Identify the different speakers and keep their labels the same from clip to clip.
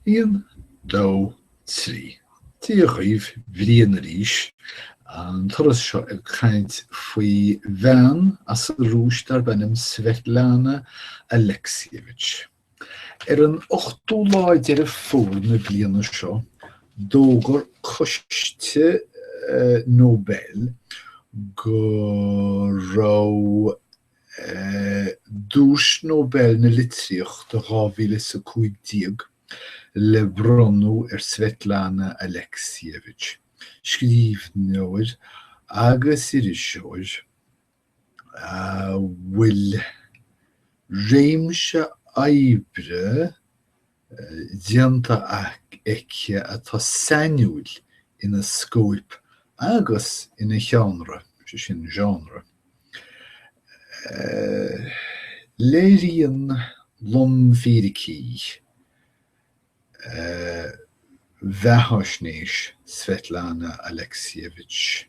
Speaker 1: Aon, dó, trí. Dia daoibh, Brian arís. An turas seo ag caint faoi bhean as an Rúis darb ainm Svetlana Alexievich. Ar an 8ú lá Deireadh Fómhair na bliana seo d'fhógair coiste Nobel go raibh Duais Nobel na Litríochta 2015 le bronnadh ar Svetlana Aleksievich, scríbhneoir agus iriseoir a bhfuil réimse oibre. déanta aici atá sainiúil ina scóip agus ina sheánra, sin genre. Léiríonn lomfhíricí bheathaisnéis Svetlana Alexievich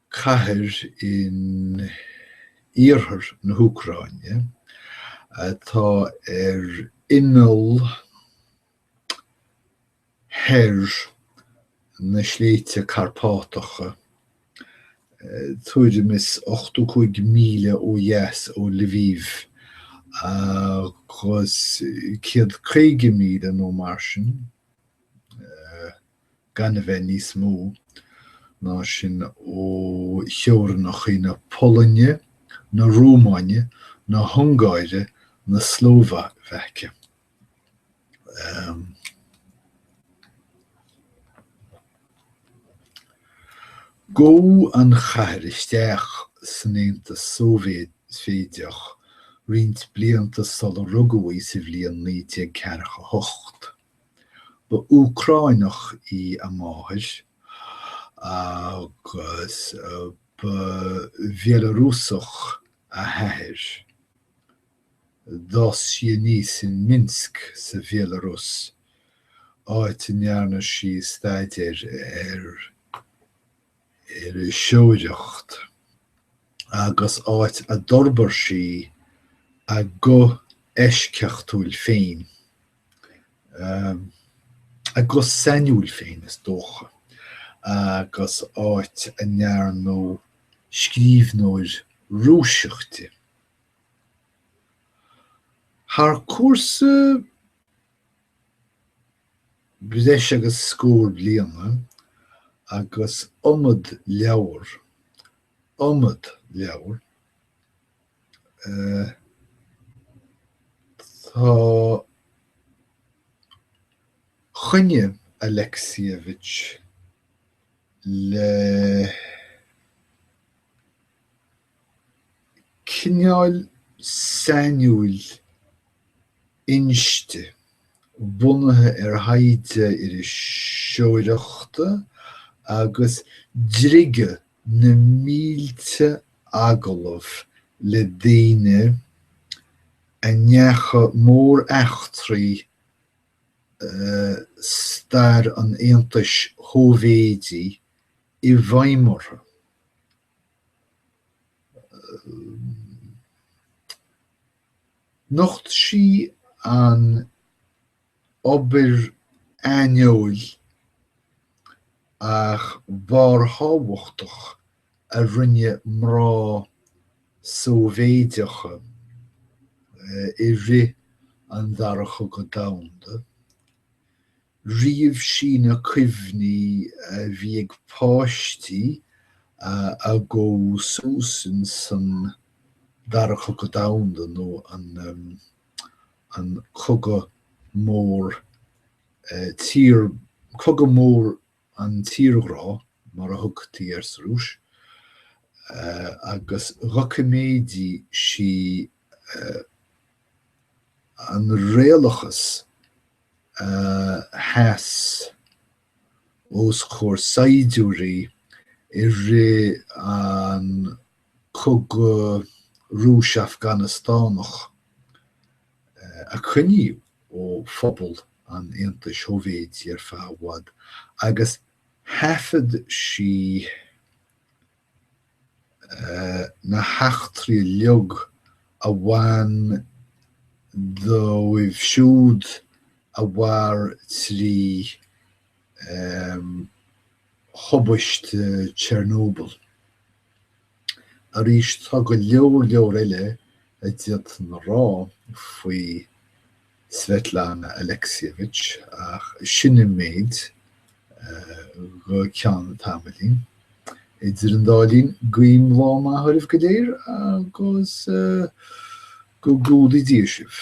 Speaker 1: Cathair in iarthar na hÚcráine atá ar imeall thoir na Sléibhte Carpátacha, tuairim is 85 míle ó dheas ó Lviv agus céad caoga míle nó mar sin gan a bheith níos mó ná sin ó theorainneacha na Polainne, na Rómáine, na hUngáire, na Slóvaice. Chuaigh an chathair isteach san Aontas Sóivéideach roinnt blianta sular rugadh í sa bhliain 1948. Ba Úcráineach í a máthair agus ba Bhealarúsach a hathair. D'fhás sí aníos in Minsk sa Bhealarúis, áit a ndearna sí staidéar ar an iriseoireacht agus áit a d'fhorbair sí a guth eisceachtúil féin. a guth sainiúil féin is dócha agus áit a ndearnadh scríbhneoir Rúisise di. Thar cúrsa breis agus scór bliana agus iomad leabhar, iomad leabhar, Tháinig Alexievich le cineál sainiúil inste bunaithe ar thaighde iriseoireachta agus go dtige na mílte agallamh le daoine a ndeachaigh móreachtraí i stair an Aontais Shóivéidí i bhfeidhm orthu. Nocht sí an. obair aineoil ach barrthábhachtach a rinne mná Sóivéideacha i rith an Dara Chogadh Domhanda. Ríomh sí na cuimhní a bhí ag páistí a bhí ag fás suas sa Dara Cogadh Domhanda nó an. an cogadh mór tír, cogadh mór an tírghrá mar a thugtaí air sa Rúis, agus dhoiciméadaigh sí an réalachas a sheas. os comhair saighdiúirí i rith an Chogaidh Rúis-Afganastánaigh a coinníodh ó phobal an Aontais Shóivéidí ar feadh i bhfad, agus thaifead sí na heachtraí uilig a bhain dóibh siúd a mhair trí thubaiste Chernobyl. Arís, tá go leor leor eile a d'fhéadfainn a rá faoi. Svetlana Alexievich, ach sin an méid, go ceann tamaillín. Idir an dá linn, guím lá maith oraibh go léir agus go gcumhdaí Dia sibh.